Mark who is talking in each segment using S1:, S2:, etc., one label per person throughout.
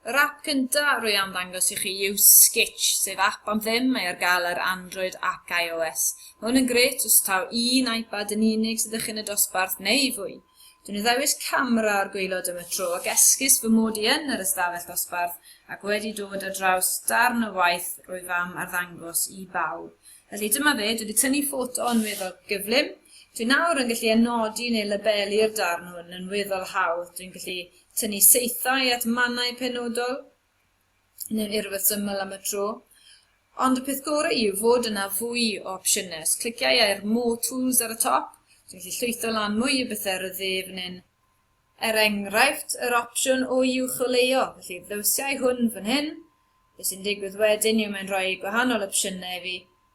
S1: Yr app gynta rwy am ddangos i chi yw Skitch, sef app am ddim, mae ar gael ar Android ac iOS. Mae hwn yn grêt os taw un iPad yn unig sydd â chi yn y dosbarth neu fwy. Dwi'n addewis camera o'r gwaelod am y tro ac esgus fy mod i yn yr ystafell ddosbarth ac wedi dod ar draws darn o waith rwyf am arddangos i bawb. Felly dyma fe, dwi wedi tynnu ffoto yn weddol gyflym. Dwi nawr yn gallu anodi neu labelu'r darn hwn yn weddol hawdd. Dwi'n gallu tynnu saethau at mannau penodol neu'n urweth syml am y tro. Ond y peth gorau yw fod yna fwy o opsiynau. Os cliciau i ar More Tools ar y top, dwi'n gallu llwytho lan mwy o bethau ar y dde fan hyn. Er enghraifft, yr opsiwn o uwcholeuo, felly ddewsiau hwn fan hyn, Be sy'n digwydd wedyn yw mae'n rhoi gwahanol opsiynau i fi,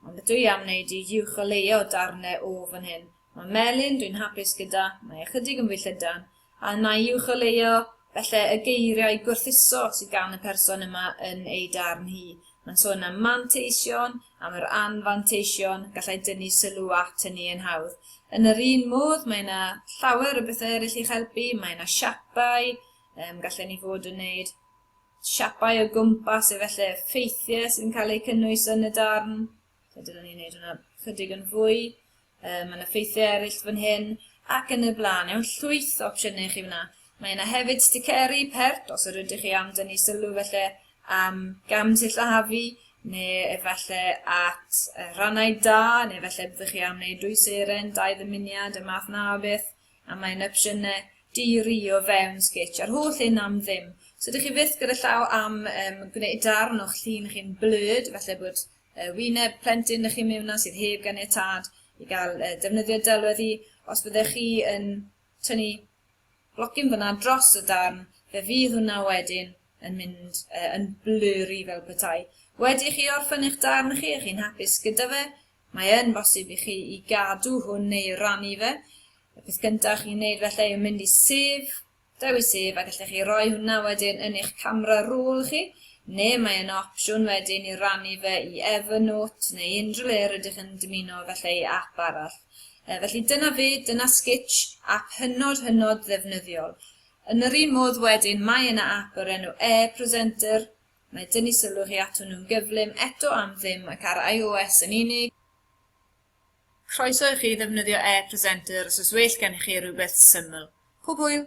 S1: ond beth dw i am wneud yw uwch o leia o darnau o fan hyn. Mae melyn, dwi'n hapus gyda, mae ychydig yn fwy llydan, a yna i uwch o leia, falle y geiriau gwerthuso sydd gan y person yma yn ei darn hi. Mae'n sôn am manteision, am yr anfanteision, gallai dynnu sylw at hynny yn hawdd. Yn yr un modd, mae yna llawer o bethau eraill i'ch helpu, mae yna siapau, um, gallen ni fod yn wneud siapau o gwmpas efallai ffeithiau sydd yn cael eu cynnwys yn y darn. So dyna ni'n neud hwnna chydig yn fwy. Um, mae yna ffeithiau eraill fan hyn ac yn y blaen. Iawn, llwyth o opsiynau chi fyna. Mae yna hefyd sticeri, pert, os yr ydych chi am dynnu sylw felly am gam sillafu, neu efallai at rhannau da, neu efallai byddwch chi am wneud dwy seren, dau ddymuniad, y math na o beth. a mae yna opsiynau di-rio fewn Sketch a'r holl un am ddim. So dych chi fyth gyda llaw am um, gwneud darn o'ch llun chi'n blurred, felly bod uh, wyneb plentyn ych chi'n mewn na sydd heb ganiatad i gael uh, defnyddio delwedd i. Os byddech chi yn tynnu blocyn fyna dros y darn, fe fydd hwnna wedyn yn mynd uh, yn blurry fel petai. Wedi chi orffen eich darn chi, ych chi'n hapus gyda fe, Mae yn bosib i chi i gadw hwn neu rannu fe. Y peth gyntaf chi'n neud felly yw mynd i sef, dewis sef a gallech chi roi hwnna wedyn yn eich camera roll chi, neu mae yna opsiwn wedyn i rannu fe i Evernote neu unrhyw le rydych yn dymuno felly i app arall. E, felly dyna fe, dyna Sketch, app hynod hynod ddefnyddiol. Yn yr un modd wedyn mae yna app o'r enw e-Presenter, Mae tynnu sylw chi ato nhw'n gyflym eto am ddim ac ar iOS yn unig. Croeso i chi ddefnyddio e-presenter os oes well gennych chi rhywbeth syml. Pob hwyl!